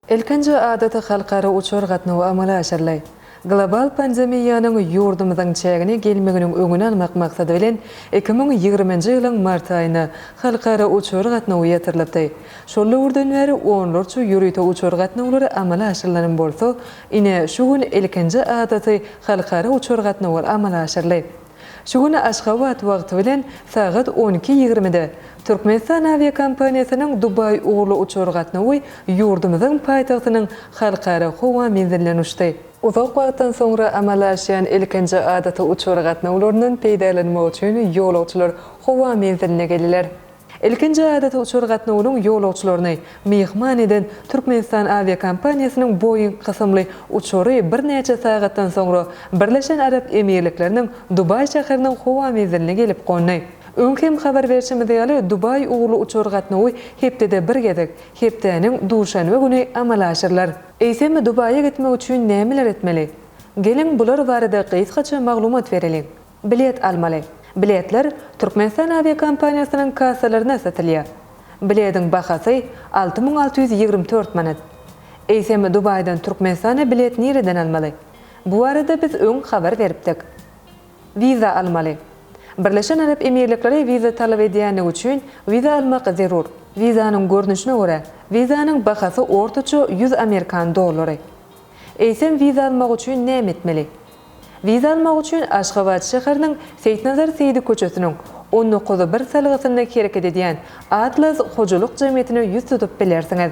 Ilkinji adaty halkara uçar gatnawy amala aşyryldy. Global pandemiýanyň ýurdumyzyň çägine gelmeginiň öňüni almak maksady bilen, iki müň ýigriminji ýylyň mart aýyna halkara uçar gatnawy ýatyrylypdy. Şol döwürden bäri onlarça ýörite uçar gatnawlary amala aşyrylanam bolsa, ine, şu gün ilkinji adaty halkara uçar gatnawy amala aşyryldy. Şu gün Aşgabat wagty bilen sagat on iki ýigrimide Türkmenistan awiakompaniýasynyň Dubaý ugurly uçar gatnawy ýurdumyzyň paýtagtynyň Halkara howa menziline uçdy. Uzak wagtdan soňra amala aşýan ilkinji adaty uçar gatnawlaryndan peýdalanmak üçin ýolagçylar howa menziline geldiler. Ilkinji adaty uçar gatnawynyň ýolagçylaryny myhman eden Türkmenistan awiakompaniýasynyň Boeing kysymly uçary birnäçe sagatdan soňra Birleşen Arap Emirlikleriniň Dubaý şäheriniň howa menziline gelip gondy. Öň hem habar berşimiz ýaly, Dubaý ugurly uçar gatnawy hepdede bir gezek, hepdäniň duşenbe güni amala aşyrylar. Eýsem, Dubaýa gitmek üçin nämeler etmeli? Geliň, bular barada gysgaça maglumat bereliň. Bilet almaly. Biletler Türkmenistan awiakompaniýasynyň kassalarynda satylýar. Bilediň bahasy alty müň alty ýüz ýigrimi dört manat. Eýsem, Dubaýdan Türkmenistana bilet nireden almaly? Bu barada biz öň habar beripdik. Wiza almaly. Birleşen Arap Emirlikleri wiza talap edýändigi üçin wiza almak zerur. Wizanyň görnüşine görä, wizanyň bahasy ortaça ýüz amerikan dollary. Eýsem, wiza almak üçin näme etmeli? Wiza almak üçin Aşgabat şäheriniň Seýitnazar Seýdi köçesiniň on dokuz bir salgysynda hereket edýän Atlas hojalyk jemgyýetine ýüz tutup bilersiňiz.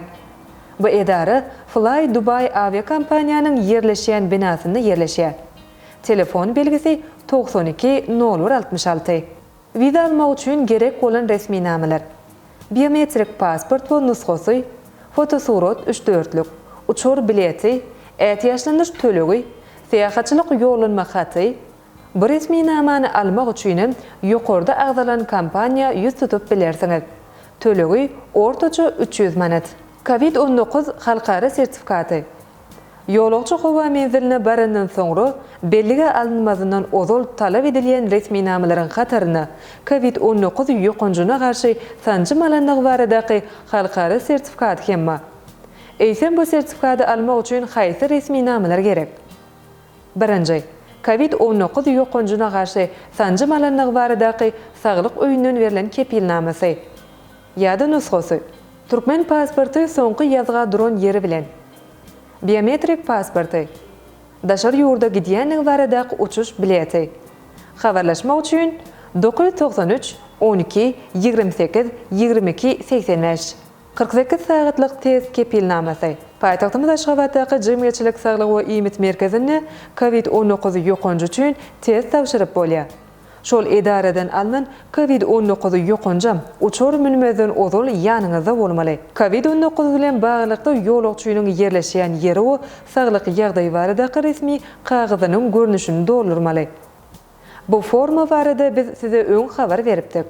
Bu edara Fly Dubai awiakompaniýanyň ýerleşýän binasynda ýerleşýär. Telefon belgisi togsan iki nol bir altmyş alty. Wiza almak üçin gerek bolan resminamalar, Biometrik pasport we nusgasy, fotosurat üç dörtlük, uçar bileti, ätiýaçlanyş tölegi, syýahatçylyk ýollanma haty, Bu resminamany almak üçin hem ýokarda agzalan kompaniýa ýüz tutup bilersiňiz. Tölegi, ortaça üç ýüz manat. Covid on dokuz halkara sertifikaty, Ýolagçy howa menziline barandan soňra, bellige alynmazyndan ozal talap edilýän resminamalaryň hataryna covid on dokuz ýokanjyna garşy sanjym alandygy baradaky halkara sertifikaty hem bar. Eýsem bu sertifikady almak üçin haýsy resminamalar gerek? Birinji, covid on dokuz ýokanjyna garşy sanjym alandygy baradaky saglyk öýünden berlen kepilnamasy. Ýa-da nusgasy. Türkmen pasporty soňky ýazga duran ýeri bilen. Biometrik pasporty. Daşary ýurda gidýänligi baradaky uçuş bileti. Habarlaşmak üçin, dokuz ýüz togsan üç, on iki, ýigrimi sekiz, ýigrimi iki, segsen bäş. Kyrk sekiz sagatlyk test kepilnamasy. Paýtagtymyz Aşgabatdaky Jemgyýetçilik saglygy we iýmit merkezinde covid on dokuz ýokanjy üçin test tabşyryp bolýar. Şol edaradan alnan covid on dokuz ýokanjam uçar münmezden ozal ýanyňyzda bolmaly. Covid on dokuz bilen baglylykda ýolagçynyň ýerleşýän ýeri we saglyk ýagdaýy baradaky resmi kagyzynyň görnüşini doldurmaly. Bu forma barada biz size öň habar beripdik.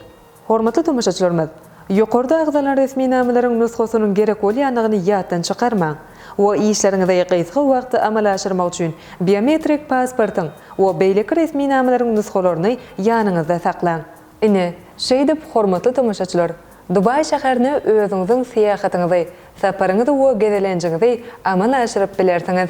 Hormatly tomaşaçylarymyz! Ýokarda agzalan resminamalaryň nusgasynyň gerek bolýandygyny ýatdan çykarmaň we işleriňizi gysga wagtda amala aşyrmak üçin biometrik pasportyň we beýleki resminamalaryň nusgalaryny ýanyňyzda saklaň. Ine, şeýdip, hormatly tomaşaçylar, Dubaý şäherine özüňiziň syýahatyňyzy, saparyňyzy we gezelenjiňizi amala aşyryp bilersiňiz.